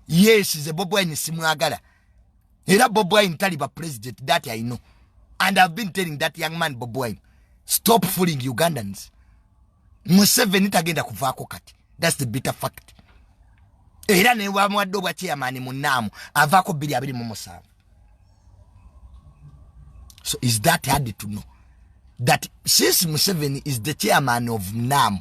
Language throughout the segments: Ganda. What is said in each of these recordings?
yes nze bob wine simwagala era bob wine taliba president that i know and ihave been telling that young man bob wine stop fooling ugandans museveni tagenda kuvaako kati thats the bitter fact era newamuwadde obwa chairman munaamu avaako biri abiri mu musanvu so is that hard to know that since museveni is the chairman of naamu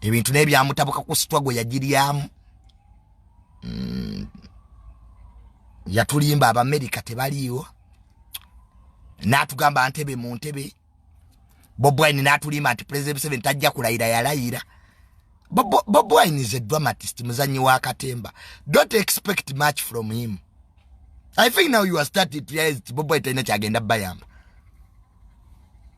ebintu naye byamutabuka ku sitwa gwe yagiryamu mm. yatulimba abamerika tebaliiwo natugamba ntebe mu ntebe bobwine natulimba nti president museveni tajja kulayira yalayira bobwine is a dramatist muzanyi wa katemba don't expect much from him i think now you are starting to realize bobwine talina kyagenda bayamba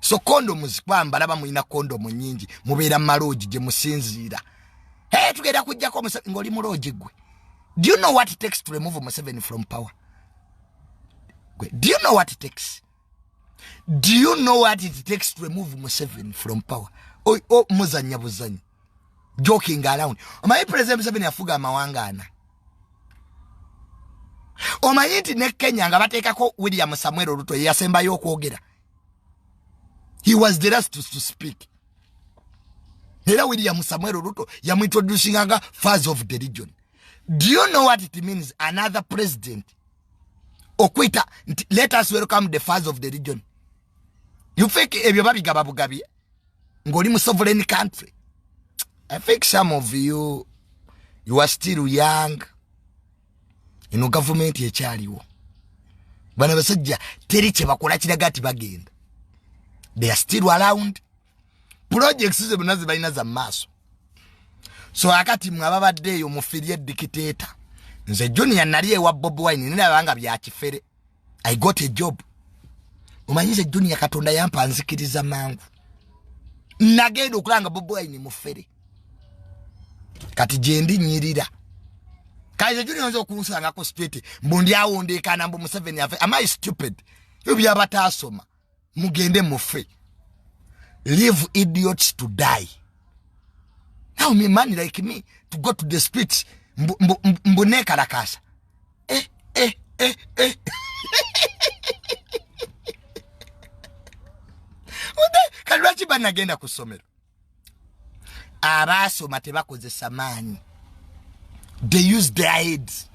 so condoms kwambala bamulina condom nyingi mubeera maloogi gye musinziira hey, tugenda kujjako ng'oli muloogi gwe do you know what it takes to remove museveni from power gwe do you know what it takes do you know what it takes to remove museveni from power muzanya buzanyi joking around omanyi president museveni afuga amawanga ana omanyi nti ne kenya nga bateekako william samuel oluto yeyasembayo okwogera he was the last to, to speak era william samuel oluto yamuintroducinganga faz of the region do you know what it means another president okwita nti let us welcome the faz of the region you fake ebyo babigaba bugabye ngoli mu sovereign country i think some of you you are still young eno gavumenti ekyaliwo bana basajja teri kyebakola kiraga ti bagenda they are still around projects ze banazi balina za maaso so akati mwe ababadde eyo mufirie dikiteta nze junior nali ewa bob wine nina banga bya kifere i got a job omanyize junior katonda yampa nzikiriza mangu nagenda okulanga boboine mufere kati gyendi nyirira kaize junior nze okunsangako straight mbu ndi awondekana mbu museveni afe am i stupid ebyo byabataasoma mugende mufe leave idiots to die now me man like me to go to the street mbunekalakasa eh, eh, eh, eh. kati lwaki banagenda ku ssomero abaasoma tebakozesa maanyi they use their heads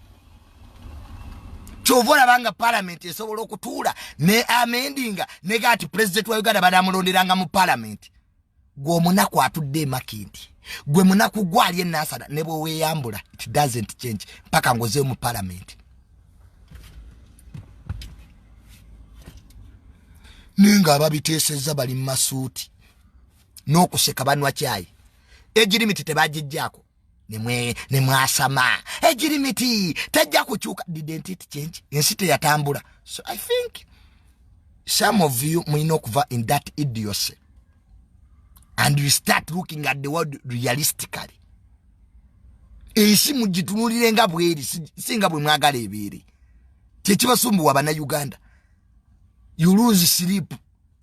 kyova olaba nga palamenti esobola okutuula ne amendinga nega ati pulezidenti wa uganda banamulonderanga mu palamenti gwe omunaku atudde emakindi gwe munaku gwali enasana ne bweweyambula it doesn't change mpaka ngozeyo mu palamenti naye nga ababiteesezza bali mu masuuti n'okuseka banwa kyayi egirimiti tebagijjaako ne mwasama egirimiti tejja kukyuka didentit change ensi teyatambula so i think some of you mulina okuva in that idiosy and you start looking at the world realistically ensi mugitunulire nga bweri singa bwe mwagala ebeere kyekibasumbuwa bana uganda you lose sleep